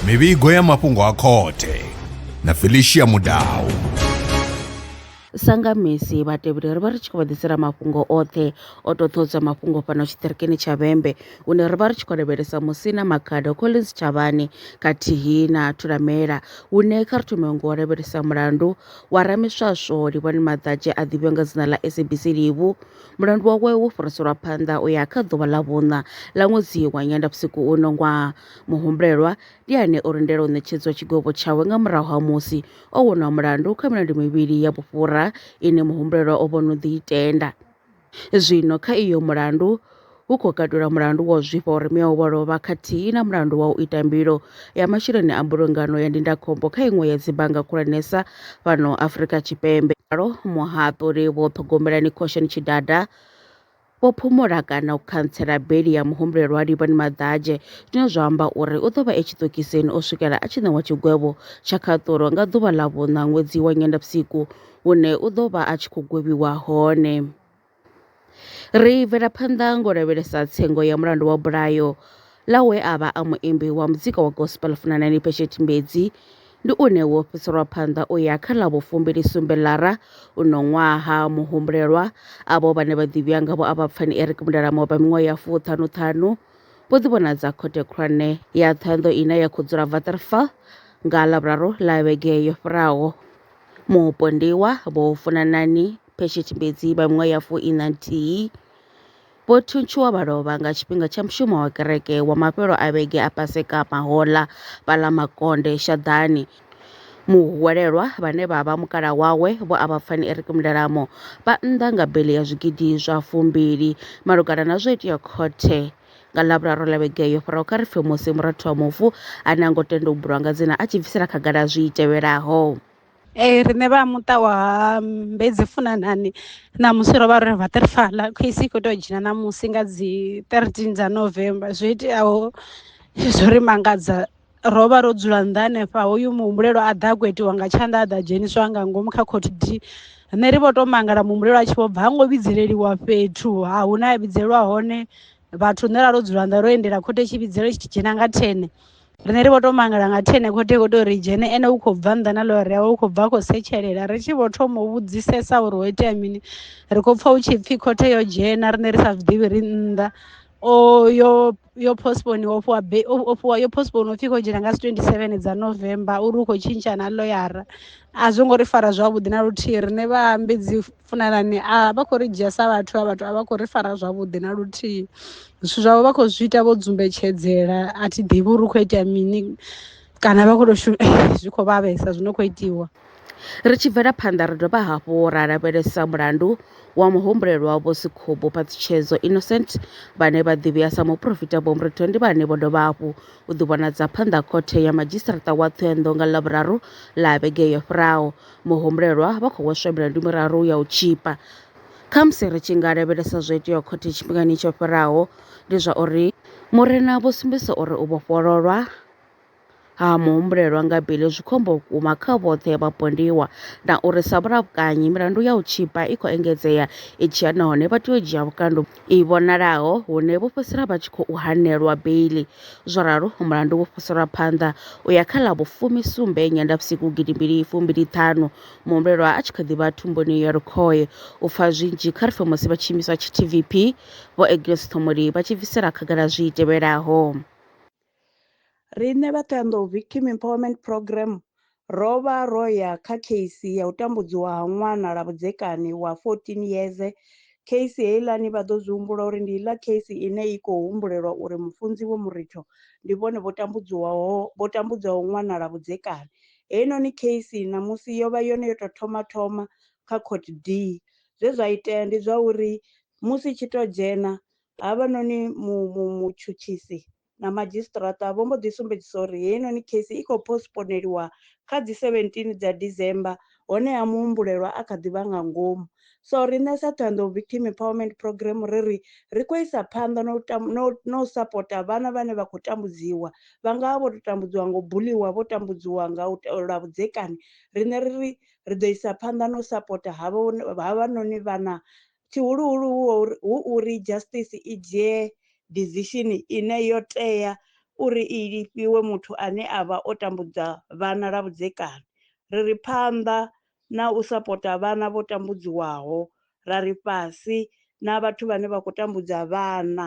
mivhigo ya mafhungo a khothe na felicia mudau sanga misi vhatevheli ri vha ri tshi khou vha ḓisela mafhungo oṱhe o to ṱhodza mafhungo fhano tshiṱirikini tsha vhembe hune ri vha ri tshi khou lavhelesa musina makhado collins tshavhani khathihi na thulamela hune kha ri thome ngo lavhelesa mulandu wa ramiswaswo livhani maḓadzhe a ḓivhiwa nga dzina ḽa sabc livhu Mulandu wawe wo fhiriselwa phanḓa u ya kha ḓuvha ḽa vhuṋa ḽa ṅwedzi wa Nyendavhusiku uno ṅwaha. Muhumbulelwa ndi ane o lindela u ṋetshedzwa tshigwevho tshawe nga murahu ha musi o wonwa mulandu kha milandu mivhili ya vhufhura ine muhumbulelwa o vho no ḓi i tenda. Zwino kha iyo mulandu, hu khou katula mulandu wa u zwifha uri mme wavho o lovha khathihi na mulandu wa u ita mbilo ya masheleni a mbulungano ya ndindakhombo kha iṅwe ya dzibannga khulwanesa fhano Afrika Tshipembe. Ralo muhaṱuli Vho Ṱhogomelani Khosheni Tshidada vho phumula kana u khantsela beli ya muhumbulelwa Livhani Maḓadzhe zwine zwa amba uri u ḓo vha e tshiṱokisini u swikela a tshi ṋewa tshigwevho tsha khaṱulo nga ḓuvha ḽa vhuṋa ṅwedzi wa Nyendavhusiku hune u ḓo vha a tshi khou gwevhiwa hone. Ri bvela phanḓa ngo u lavhelesa tsengo ya mulandu wa bulayo ḽa we a vha a muimbi wa muzika wa gospel Funanani Pheshe Tshimbedzi, ndi une wo fhiselwa phanḓa u ya kha ḽa vhu fumbili sumbe Lara uno ṅwaha. Muhumbulelwa avho vhane vha ḓivhiwa nga vho Avhapfani Eric Mudalama vha miṅwaha ya fuṱhanu ṱhanu vho ḓi vhonadza khothe khulwane ya Ṱhohoyanḓou ine ya khou dzula Waterval nga Ḽavhuraru ḽa vhege yo fhiraho. Mupondiwa Vho Funanani phe tshitshimedzi vha miṅwaha ya fumi na nthihi vho thuntshiwa vha lovha nga tshifhinga tsha mushumo wa kereke wa mafhelo a vhege a Paseka mahoḽa vha ḽa makonde shaḓani. Muhwelelwa vhane vha vha mukala wawe vho a vha pfani Eric Mndalamo vha nnḓa nga beli ya zwigidi zwa fumbili malugana na zwo itea khothe nga ḽavhuraru ḽa vhege yo fhiraho kha ri pfe musi murathu wa mufu ane a ngo tenda u bulwa nga dzina a tshi bvisela khagala zwi tevhelaho. Ee riṋe vha muṱa wa Mbudzi Funanani ṋamusi ro vha ro no waterfall khosi i kho to dzhena ṋamusi nga dzi thirteen dza November zwo iteaho zwo ri mangadza ro vha ro dzula nnḓa hanefha hoyu muhumbulelwa a ḓa a khou itiwa nga tshanḓa a ḓa dzheniswa nga ngomu kha khotsi dzi rine ri vho to mangala muhumbulelwa a tshi vho bva ha ngo vhidzelwa fhethu ha hu na ya vhidzelwa hone vhathu rine ra ro dzula nnḓa ro lindela khothe tshi vhidzelwa tshi dzhena nga thene. Riṋe ri vho to mangala nga thi ene khothe kho to ri dzhene ene u khou bva nnḓa na ḽore yawe u khou bva a khou setshelela ri tshi vho thoma u vhudzisesa uri ho itea mini ri khou pfha hu tshi pfhi khothe yo dzhena riṋe ri sa zwiḓivhi ri nnḓa o yo yo postpone wo fhiwa be o fhiwa yo postpone upfhi kho dzhena nga si 27 dza November uri u khou tshintsha na ḽoyara a zwo ngo ri fara zwavhuḓi na luthihi riṋe vha ambedzi funanani a vha khou ri dzhia sa vhathu a vhathu a vha khou ri fara zwavhuḓi na luthihi zwithu zwavho vha khou zwi ita vho dzumbetshedzela a thi ḓivhi uri u khou itea mini kana vha khou tou shuma zwi khou vhavhesa zwi no khou itiwa Ri tshi bvela phanḓa ri dovha hafhu ra lavhelesa mulandu wa muhumbulelwa Vho Sikhubu Phatsitshedzo Innocent vhane vha ḓivhea sa muporofita Vho Mritho ndi vhane vho dovha hafhu u ḓivhonadza phanḓa khothe ya madzhisiṱaraṱa wa Thohoyandou nga Ḽavhuraru ḽa vhege yo fhiraho. Muhumbulelwa vha khou hweswa milandu miraru ya u tzhipa. Khamusi ri tshi nga lavhelesa zwo iteaho khothe tshifhingani tsho fhiraho, ndi zwa uri Murena vho sumbedzisa uri u vhofhololwa ha muhumbulelwa nga bili zwi khombo vhukuma kha vhoṱhe vhapondiwa na uri sa vhulakanyi milandu ya u tzhipa i khou engedzea i tshi ya nahone vha tea u dzhia vhukando i vhonalaho hune vho fhedzisela vha tshi khou hanelwa beiḽi. Zwo ralo, mulandu wo fhiriselwa phanḓa u ya kha ḽa vhufumi sumbe Nyendavhusiku gidi mbili fumbili ṱhanu, muhumbulelwa a tshi kha ḓi vha thumbuni ya lukhohe. U pfa zwinzhi kha ri pfe musi vhatshiimiswa tsha TVP, Vho Agnes Ṱhomoli vha tshi bvisela khagala zwi tevhelaho. Riṋe vha Thohoyandou Victim Empowerment Programme ro vha ro ya kha kheisi ya u tambudziwa ha ṅwana lwa vhudzekani wa 14 yeze. Kheisi heiḽani vha ḓo zwi humbula uri ndi iḽa kheisi ine i khou humbulelwa uri mufunzi Vho Muricho ndi vhone vho tambudziwaho vho tambudzaho ṅwana lwa vhudzekani. Heinoni kheisi ṋamusi yo vha yone yo tou thoma thoma kha Court D. Zwe zwa itea ndi zwa uri musi i tshi tou dzhena Havhanoni mutshutshisi na madzhisiṱiraṱa vho mbo ḓi sumbedzisa uri heinoni kheisi i khou postponeliwa kha dzi 17 dza December honeha muhumbulelwa a kha ḓi vha nga ngomu. So riṋe sa Thohoyandou Victim Empowerment Programme ri ri, ri khou isa phanḓa na u na u sapota vhana vhane vha khou tambudziwa, vha nga vha vho tou tambudziwa nga u buḽiwa, vho tambudziwa nga lwa vhudzekani, riṋe ri ri, ri ḓo isa phanḓa na u sapota havhanoni vhana tshihuluhulu hu uri justice i dzhie decision ine yo tea uri i lifhiwe muthu ane a vha o tambudza vhana lwa vhudzekani. Ri ri phanḓa na u sapota vhana vho tambudziwaho, ra ri fhasi na vhathu vhane vha khou tambudza vhana.